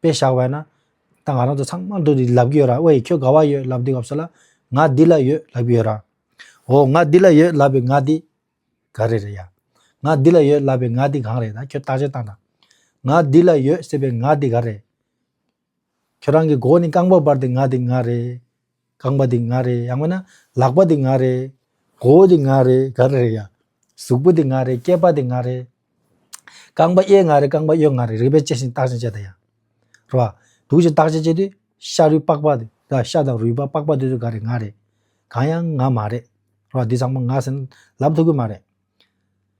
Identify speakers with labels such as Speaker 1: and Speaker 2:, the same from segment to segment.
Speaker 1: དཔེ་བཞག་པས་ན། ད་ང་རང་ཚོ་ཚང་མ་འདུག་འདི་ལབ་ཀྱི་ཡོད་ར་ཨོ་ཡེ་ཁྱོད་དགའ་བ་ཡོད་ལབ་འདི་སྐབས་སུ་ལ། ང་འདི་ལ་ཡོད་ལབ་ཀྱི་ཡོད་ར། འོ་ང་འདི་ལ་ཡོད་ལབ་པའི་ང་འདི། ག་རེ་རེད་ཡ། ང་འདི་ལ་ཡོད་ལབ་པའི་ང་འདི་གང་རེད་ད་ཁྱོད་བརྟག་དཔྱད་བཏང་དང། ང་འདི་ལ་ཡོད་ཟེར་པའི་ང་འདི་ག་རེད། ཁྱོད་རང་གི་མགོ་ནི་རྐང་པ་བར་དེ་ང་འདི་ང་རེད། རྐང་པ་འདི་ང་རེད་ཡང་བས་ན་ལག་པ་འདི་ང་རེད། མགོ་བོ་འདི་ང་རེད་ག་རེ་རེད་ཡ། གཟུགས་པོ་འདི་ང་རེད་སྐྱེས་པ་འདི་ང་རེད། རྐང་པ་གཡས་ང་རེད་རྐང་པ་གཡོན་ང་རེད་རིག་པས་དཔྱད་ཅིང་བརྟག་ཅིང་དཔྱད་ད་ཡ། རེད་བ། དུག་ཅིང་བརྟག་ཅིང་དཔྱད་དུས་ཤ་རུས་པགས་པ་འདི་ག་ཤ་དང་རུས་པ་པགས་པ་འདི་ཚོ་ག་རེད་ང་རེད། གང་ཡང་ང་མ་རེད། རེད་བ། འདི་ཚང་མ་ང་ཟེར་ན་ལབ་ཐུབ་གི་མ་རེད།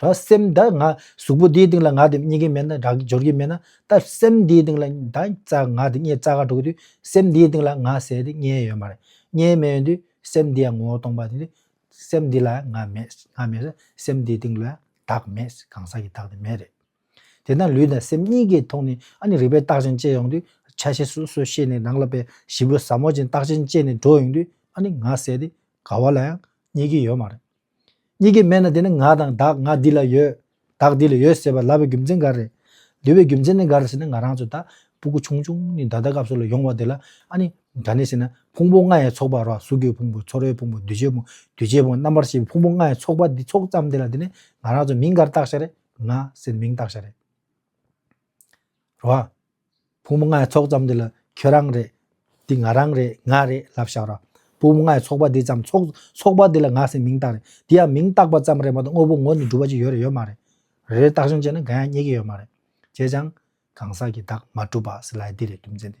Speaker 1: ད་སེམས་ད་ང་གཟུགས་པོ་འདིའི་སྟེང་ལ་ང་དེ་རྙེད་ཀྱི་མེད་ན་དགྲ་བགེགས་སྦྱོར་གྱི་མེད་ན་ད་སེམས་འདིའི་སྟེང་ལ་ད་ང་དེ་རྙེད་རྩ་ཁ་འགྲོ་གི་དུས་སེམས་འདིའི་སྟེང་ལ་ང་ཟེར་དེ་རྙེད་ཡོད་མ་རེད་རྙེད་མེད་ཡོད་དུས་སེམས་འདི་ཡང་ངོ་བོ་སྟོང་པ་དེ་སེམས་འདི་ལ་ང་མེད་ང་མེད་ས་སེམས་འདིའི་སྟེང་ལ་བདག་མེད་གང་ཟག་གི་བདག་དེ་མེད་རེད། དེ་ན་ལུས་དང་སེམས་གཉིས་ཀའི་ཐོག་ནས་ཨ་ནི་རིག་པའི་རྟགས་ཅན་སྐྱེ་ཡོང་དུས་ཆ་ཤས་སོ་སོ་ཤེས་ནས་རང་ལ་པའི་བཞི་པོ་ཟབ་མོ་ཅན་རྟགས་ཅན་སྐྱེས་ནས་འགྲོ་ཡོང་དུས་ཨ་ནི་ང་ཟེར་དེ་ག་བ་ལ་ཡང་རྙེད་ཀྱི་ཡོད་མ་རེད། གཉིས་ཀའི་མན་ན་དེ་ནི་ང་དང་བདག་ང་འདི་ལ་ཡོད། བདག་འདི་ལ་ཡོད་ཟེར་བ་ལབ་པའི་རྒྱུ་མཚན་ག་རེ། ལུས་པའི་རྒྱུ་མཚན་ནི་ག་རེ་ཟེར་ན་ང་རང་ཚོ་ད་སྤུ་གུ་ཆུང་ཆུང་ནས་ད་ལྟ་སྐབས་སོགས་ལ་ཡོང་བ་དེ་ལ་ཨ་ནི་ག་ནས་ཟེར་ན་ཕུང་པོ་ལྔའི་ཚོགས་པ་རོ་གཟུགས་ཀྱི་ཕུང་པོ་ཚོར་བའི་ཕུང་པོ་འདུས་བྱས་ཕུང་འདུས་བྱས་ཕུང་རྣམ་པར་ཤེས་པའི་ཕུང་པོ་ལྔའི་ཚོགས་པ་འདི་ཚོགས་ཙམ་དེ་ལ་དེ་ནི་ང་རང་ཚོ་མིང་ག་རེ་བཏགས་ཤ་རེ། ང་ཟེར་མིང་བཏགས་ཤ་རེ། རོ། བུ་མོ་ལྔའི་ཚོགས་ཙམ་འདི་ལ་ཁྱོད་རང་རེད། འདི་ང་རང་རེད་ང་རེད་ལབ་བཞག་རོ། བུ་མོ་ལྔའི་ཚོགས་པ་འདི་ཙམ་ཚོགས་པ་འདི་ལ་ང་སེམས་མིང་བཏགས་རེད་འདི་ཡང་མིང་བཏགས་པ་ཙམ་རེད་མ་གཏོགས་དངོས་པོ་ངོ་ནས་སྒྲུབ་པ་ཅིག་ཡོད་རེད་ཡོད་མ་རེད། རེད་བཏགས་ཤིང་བྱས་ན་འགའ་ཡང་རྙེད་ཀྱི་ཡོད་མ་རེད། བྱས་ཀྱང་གང་ཟག་གི་བདག་མ་གྲུབ་པ་སི་ལའི་འདི་རེད་རྒྱུ་མཚན་དེ།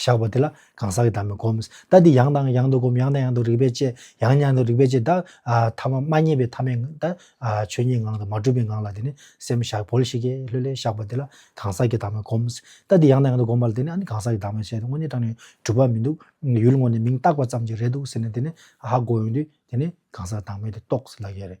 Speaker 1: བཞག་པ་དེ་ལ་གང་ཟག་གི་དམ་པའི་སྒོམ། ལྟ་འདི་ཡང་དང་ཡང་དུ་སྒོམ་ཡང་དང་ཡང་དུ་རིག་པས་དཔྱད། ཡང་ཡང་དུ་རིག་པས་དཔྱད་དག། ཐ་མ་མ་རྙེད་པའི་ཐ་མའི་ངང་དང། ཆོས་ཉིད་ངང་དང་མ་གྲུབ་པའི་ངང་ལ་དེ་ནི་སེམས་བཞག་བོལ་ཤིག་ཀྱེ་ལྷོད་ལྷོད་བཞག་པ་དེ་ལ་གང་ཟག་གི་དམ་པའི་སྒོམ། ལྟ་འདི་ཡང་དང་ཡང་དུ་སྒོམ་པ་ལ་དེ་ནི་ཨ་ནི་གང་ཟག་གི་དམ་པའི་ཆོས་དེ་དངོས་གནས་དྲངས་ནས་གྲུབ་པ་མི་འདུག་ཡུལ་དངོས་ནས་མིང་བཏགས་པ་ཙམ་གྱིས་རེད་འདུག་ཟེར་ནས་དེ་ནི་ཧ་གོ་ཡོང་དུས་དེ་ནི་གང་ཟག་དང་མོ་དེ་རྟོགས་ཟིན་ལགས་ཀྱི་རེད།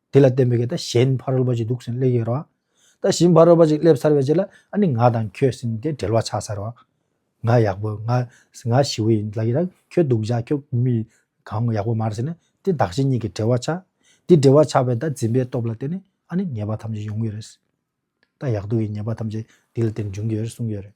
Speaker 1: དེ་ལ་བརྟེན་པའི་ད་གཞན་ཕ་རོལ་པོ་ཅིག་འདུག་ཟིན་སླེ་ཡོད་རོགས། ད་གཞན་ཕ་རོལ་པོ་ཅིག་སླེབས་ཚར་བའི་རྗེས་ལ་ཨ་ནི་ང་དང་ཁྱོད་ཟིན་ཏེ་འབྲེལ་བ་ཆགས་ཚར་རོགས། ང་ཡག་པོ་ང་ང་ཞི་བོ་ཡིན་ལ་ཡིན་རང་ཁྱོད་སྡུག་ཅག་ཁྱོད་གུས་མི་གང་ཡག་པོ་མར་ཟིན་ན་དེ་བདག་གཞན་གཉིས་ཀྱི་འབྲེལ་བ་ཆགས། དེ་འབྲེལ་བ་ཆགས་པའི་ད་འཛིན་པའི་སྟོབས་ལ་བརྟེན་ནས་ཨ་ནི་ཉེས་པ་ཐམས་ཅད་ཡོང་གི་རེད། ད་ཡག་སྡུག་གི་ཉེས་པ་ཐམས་ཅད་དེ་ལ་བརྟེན་འབྱུང་གི་ཡོད་རེད་གསུངས་ཡོད་རེད།